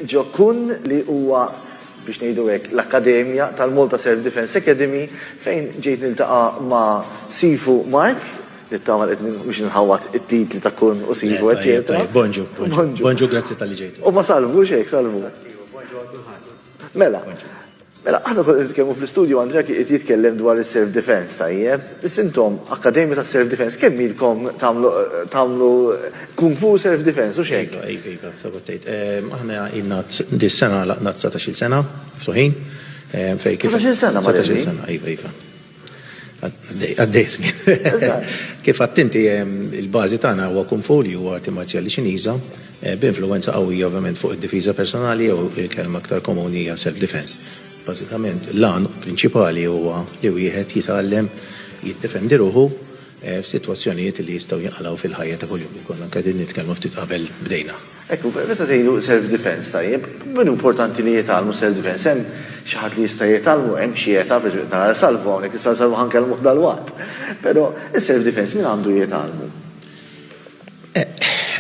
Joe Kunn li huwa, biex ngħidu hekk, l-akkademja tal-Malta Self Defence Academy fejn ġejt niltaqa' ma' Sifu Mark, nittama li qed mhux inħawwad it-titli ta' Kunn u Sifu eċċetera. Le, tajjeb, tajjeb. Bonġu, bonġu. Bonġu, grazzi talli ġejt. U ma' Salvu, hux hekk, Salvu? Bonġu għal kulħadd. Mela, Mela, aħna konna nitkellmu fl-istudju Andrea kien qiegħed jitkellem dwar is-self defense, tajjeb? Issa intom akkademja tas-self defense, kemm ilkom tagħmlu tagħmlu kung fu self defense, hux hekk? Iva, iva, iva, sew qed tgħid. Aħna ilna dis-sena għalaqna dsatax-il sena miftuħin fejn kif. Satax-il sena, Marelli? Satax-il sena, iva, iva. Għaddej żmien. Kif għedt inti, il-bażi tagħna huwa Kung Fu li huwa arti marzjali Ċiniża b'influwenza qawwija ovvjament fuq id-difiża personali jew il-kelma aktar komuni hija self defense. Bażikament l-għan prinċipali huwa li wieħed jitgħallem jiddefendi ruħu f'sitwazzjonijiet li jistgħu jinqalgħu fil-ħajja ta' kuljum. Konna qegħdin nitkellmu ftit qabel bdejna. Hekk, meta tgħidu self defense, tajjeb, min hu importanti li jitgħallmu self defense? Hemm xi ħadd li jista' jitgħallmu? Hemm xi età? Pereżempju qed nara 'l Salvu hawnhekk, issa 'l Salvu ħa nkellmuh dalwaqt. Però is-self defense min għandu jitgħallmu?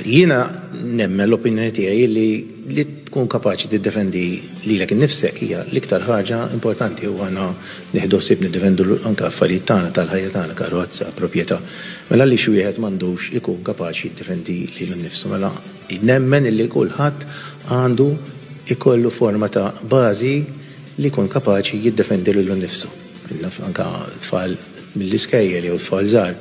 Jiena nemmen, l-opinjoni tiegħi hi li li tkun kapaċi tiddefendi lilek innifsek hija l-iktar ħaġa importanti u aħna Nieħdu ħsieb niddefendu anke affarijiet tagħna, tal-ħajja tagħna, karozza, propjetà. Mela għaliex wieħed m'għandux ikun kapaċi jiddefendi lilu nnifsu? Mela nemmen illi kulħadd għandu jkollu forma ta' bażi li jkun kapaċi jiddefendi lilu nnifsu. Naf anke tfal mill-iskejjel jew tfal żgħar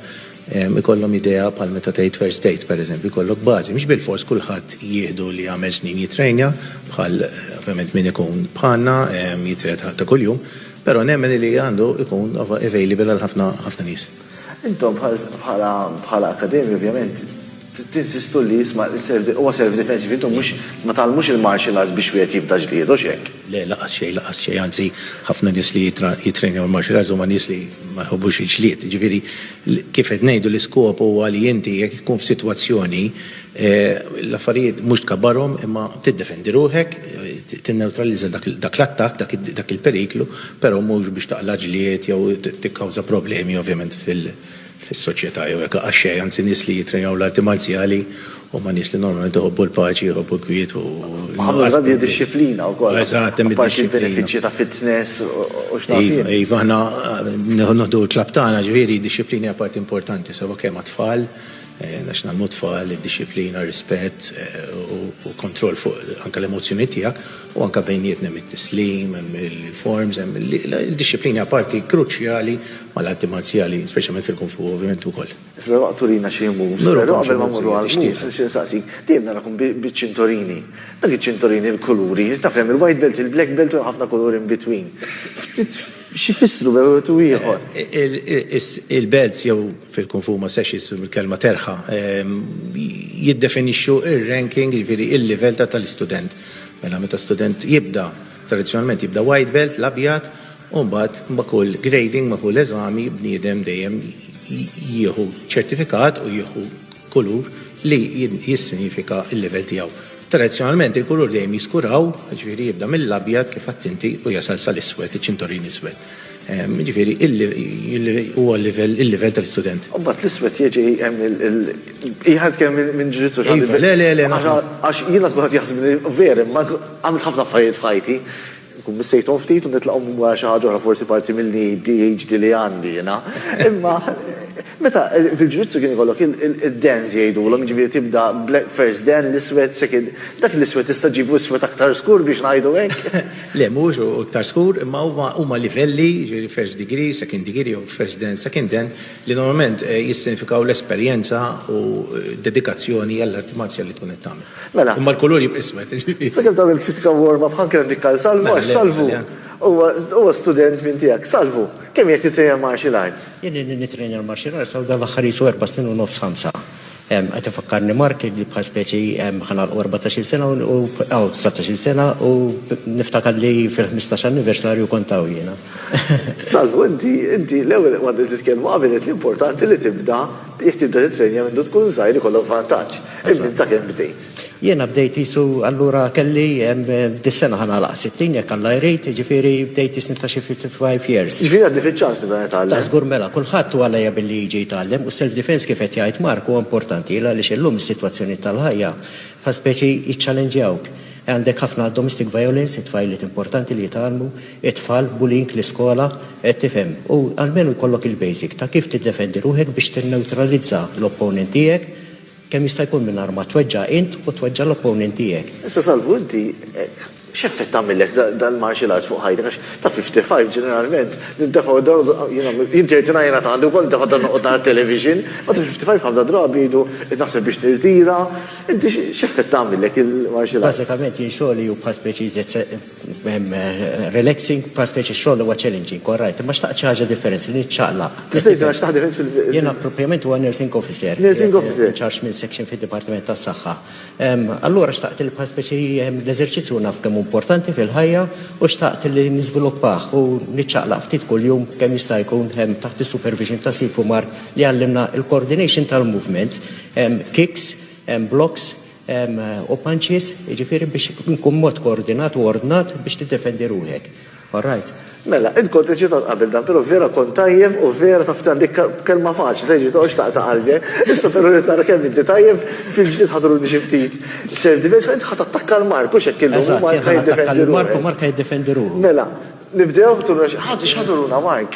Ikollhom idea bħal meta tgħid first aid, pereżempju, jkollok bażi. Mhux bilfors kulħadd jieħdu li jagħmel snin jittrejnja bħal ovvjament min ikun bħalna jitrejna ta' kuljum, però nemmen li għandu jkun available għal ħafna nies. Intom bħala bħala akkademja ovvjament Tinsistu li jisma' l-service, huwa service difensiv, intom mhux, ma tgħallmux il-martial arts biex wieħed jibda ġlied, hux hekk? Le, laqas xejn, laqas xejn, anzi ħafna nies li jittrenjaw il-martial arts huma nies li ma jħobbux il-ġlied, jiġifieri kif qed ngħidu l-iskop huwa li inti jekk tkun f'sitwazzjoni l-affarijiet mhux tkabbarhom imma tiddefendi ruħek, tinnewtralizza dak l-attakk, dak il-periklu, però mhux biex taqla' ġlied jew tikkawża problemi ovvjament fil, fis-soċjetà jew jekk laqas xejn, anzi nies li jittrejnaw l-arti marzjali huma nies li normalment iħobbu l-paċi, iħobbu l-kwiet u Ħafna drabi hija dixxiplina wkoll. Eżatt, hemm id-dixxiplina. Apparti l-benefiċċji ta' fitness u x'naf jien. Iva, iva, aħna nieħdu l-klabb tagħna, ġifieri d-dixxiplina hija parti importanti sewwa kemm għat-tfal, għax ngħallmu t-tfal id-dixxiplina, r-rispett u kontroll fuq anke l-emozzjonijiet tiegħek, u anke bejnietna hemm it-tislim, hemm il-forms, hemm il-dixxiplina hija parti kruċjali mal-arti marzjali, speċjalment fil-kung fu ovvjament ukoll. Issa daqt turina xi moves, però qabel ma mmorru għall-moves nixtieq insaqsik, dejjem narakom biċ-ċintorini. Dak iċ-ċintorini, il-kuluri, taf hemm il-white belt, il-black belt u hemm ħafna kuluri in between. Ftit x'ifissru bejn wieħed u ieħor? Il-belts jew fil-kung fu ma setax issu mill-kelma terħa, jiddefinixxu r-ranking, jiġifieri l-livell tal-istudent. Mela meta student jibda, tradizzjonalment jibda white belt, l-abjad, u mbagħad ma' kull grading, ma' kull eżami, bniedem dejjem jieħu ċertifikat u jieħu kulur li jissinjifika l-livell tiegħu. Tradizzjonalment il-kulur dejjem jiskuraw, jiġifieri jibda mill-abjad kif għedt inti u jasal sal-iswed, iċ-ċintorin iswed. Jiġifieri huwa l-livell il-livell tal-istudent. U mbagħad l-iswed jiġi hemm il jħadd kemm minn ġudizzju x'għandi. Iva, le, le, le. Għax jiena kulħadd jaħsibni vera, imma għamilt ħafna affarijiet f'ħajti, nkun missejthom ftit u nitlaqhom wara xi ħaġa oħra forsi parti mill-ADHD li għandi jiena. Imma meta fil-ġudizzju kien ikollok id-dens jgħidulhom, jiġifieri tibda first den, l-iswed, second, dak l-iswed tista' ġġibu iswed aktar skur biex ngħidu hekk. Le, mhuwiex hu iktar skur, imma huma huma livelli, jiġifieri first degree, second degree jew first den, second den, li normalment jissinifikaw l-esperjenza u d-dedikazzjoni għall-arti marzjali li tkun qed tagħmel. Mela. Imma l-kulur jibqa' iswed, jiġifieri. Sakemm tagħmel kritika warm-up ħa nkellem dik għal Salvu għax Salvu huwa huwa student minn tiegħek. Salvu, kemm ilek tittrejna l-martial arts? Jien ilni nittrejna l-martial arts hawn dan l-aħħar qisu erba' snin u nofs ħamsa. Qed ifakkarni Mark li bħal speċi ħa nagħlqu erbatax-il sena u nibqgħu dsatax-il sena u niftakar li fil-ħmistax anniversarju kont hawn jiena. Salvu, inti, inti l-ewwel qabel ma titkellmu qabel għedt li importanti li tibda, jekk tibda tittrejnja mindu tkun żgħir ikollok vantaġġ. Imma inta kemm bdejt? Jiena bdejt qisu allura kelli dis-sena ħa nagħlaq 60 jekk Alla jrid, jiġifieri bdejt qisni ta' xi 55 years. Jiġifieri għandi fiċ-ċans nibda nitgħallem? Ta' żgur mela, kulħadd hu għalejja billi jiġi jitgħallem u s-self defense kif qed jgħid Mark huwa importanti għaliex illum is-sitwazzjonijiet tal-ħajja bħal speċi jiċċallenġjawk. Għandek ħafna domestic violence, it-tfajliet importanti li jitgħallmu, it-tfal, bullying l-iskola, qed tifhem. U almenu jkollok il-basic ta' kif tiddefendi ruħek biex tinnewtralizza l-opponent tiegħek, Kemm jista' jkun mingħajr ma tweġġa' int u tweġġa' l-opponent tiegħek. Issa Salvu inti x'effett għamillek dal-martial arts fuq ħajtek għax ta' 55 ġeneralment nindefgħu jiena inti għidtilna jiena ta' għandi wkoll nindefgħu ta' noqgħod nara t-television, ma' ta' 55 ħafna drabi jgħidu qed naħseb biex nirtira, inti x'effett għamillek il-martial arts? Bażikament jien xogħli hu bħal speċi iżjed relaxing, pa speċi xogħol huwa challenging, all right, imma xtaqt xi ħaġa differenzi li niċċaqlaq. Tista' tgħidilna x'taħt differenzi fil- Jiena proprjament huwa nursing officer. Nursing officer. In charge minn section fid-Dipartiment tas-Saħħa. Allura xtaqt li bħal speċi l-eżerċizzju naf kemm importanti fil-ħajja u xtaqt li niżviluppah u niċċaqlaq ftit kuljum kemm jista' jkun taħt is-supervision ta' Sifu Mark li għallimna l-coordination tal-movements, kicks, blocks, u punches, jiġifieri biex ikun b'mod koordinat u ordnat biex tiddefendi ruħek. Alright? Mela, int kont eċitat qabel dan, però vera kont tajjeb u vera taf dan dik kelma faċli tgħid li toqgħodx taqta' qalbi. Issa però rrid nara kemm inti tajjeb, fil-ġdid ħadruni xi ftit self defense, ma int ħa tattakka 'l Mark, hux hekk illum? Eżatt, jien ħa nattakka lil Mark u Mark ħa jiddefendi ruħu. Mela, nibdew? Ħa turuna xi ħaġa, x'ħa turuna Mark?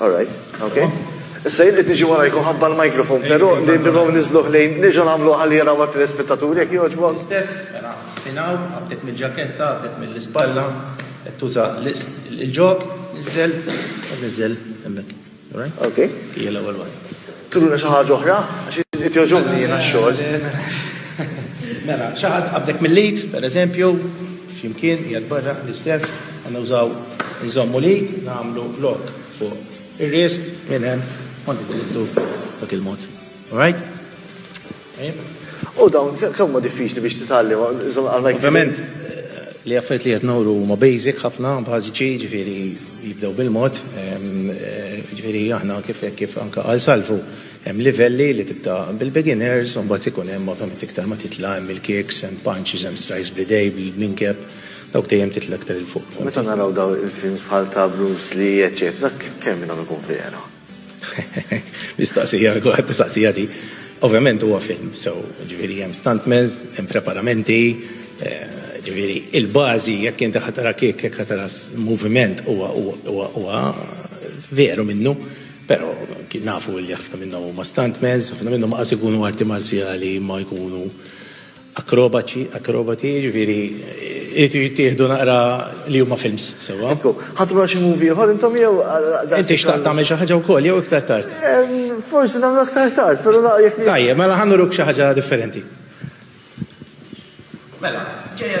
All right, ok. Issa jiddi tiġi warajku ħabba l-mikrofon, pero li nibgħu nizluħ lejn, nġu namlu għalli jaraw għat l-ispettaturi, jek joġbon. Stess, mela, finaw, għabdet mill-ġaketta, għabdet mill-ispalla, tuża l-ġok, nizzel, nizzel, emmek. All right? Ok. Ija l-ewel għal. Turuna xi ħaġa oħra għax qed jogħġobni jiena x-xogħol. Mela, xi ħadd qabdek mill-id, pereżempju, flimkien qiegħed barra l-istess, għandna użaw nżommu l-id, nagħmlu lok fuq ir-rist minn hemm kont iżidtu dak il-mod. All right? U dawn, kemm ma diffiċli biex titgħallim, Ovvjament, li affarijiet li qed nuru huma basic ħafna, bażiċi, ġifieri jibdew bil-mod. Ġifieri aħna kif kif anke għal salvu hemm livelli li tibda bil-beginners, u mbagħad ikun hemm ovvjament iktar ma titla' hemm il-kicks, hemm punches, hemm strikes bl-idejn, bil-kneecap, dawk dejjem titla' iktar 'il fuq. Meta naraw dawn il-films bħal ta' Bruce Lee, eċċetera, dak kemm minn dawn ikun vera? Mistoqsija, kulħadd mistoqsija di. Ovvjament huwa film, so ġifieri hemm stuntmans, hemm preparamenti, ġifieri il-bażi jekk inti ħa tara kick, jekk ħa tara moviment huwa huwa huwa veru minnu, però nafu li ħafna minnhom huma stuntmans, ħafna minnhom qas ikunu arti marzjali imma jkunu Akrobaċi, akrobati, jiġifieri jridu jittieħdu naqra li huma films sewwa. Ekku, ħadd ma xi movie ieħor intom jew daqshekk. Inti xtaqt tagħmel xi ħaġa wkoll jew iktar tard? Forsi nagħmlu aktar tard, però naqra jekk. Tajjeb, mela ħa nuruk xi ħaġa differenti. Mela, ġejja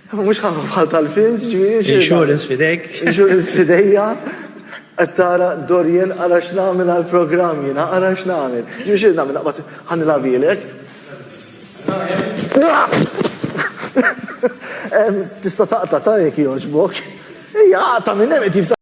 Mhux ħafna bħal tal-film, ġifieri xi. Insurance f'idejk. Insurance f'idejja. Qed tara Dorian ara x'nagħmel għall-programm jiena, ara x'nagħmel. Ġifieri xi nagħmel naqbad ħanilgħabilek. Tista' taqta' ta' jekk jogħġbok. Ejja, aqta' minn hemm qed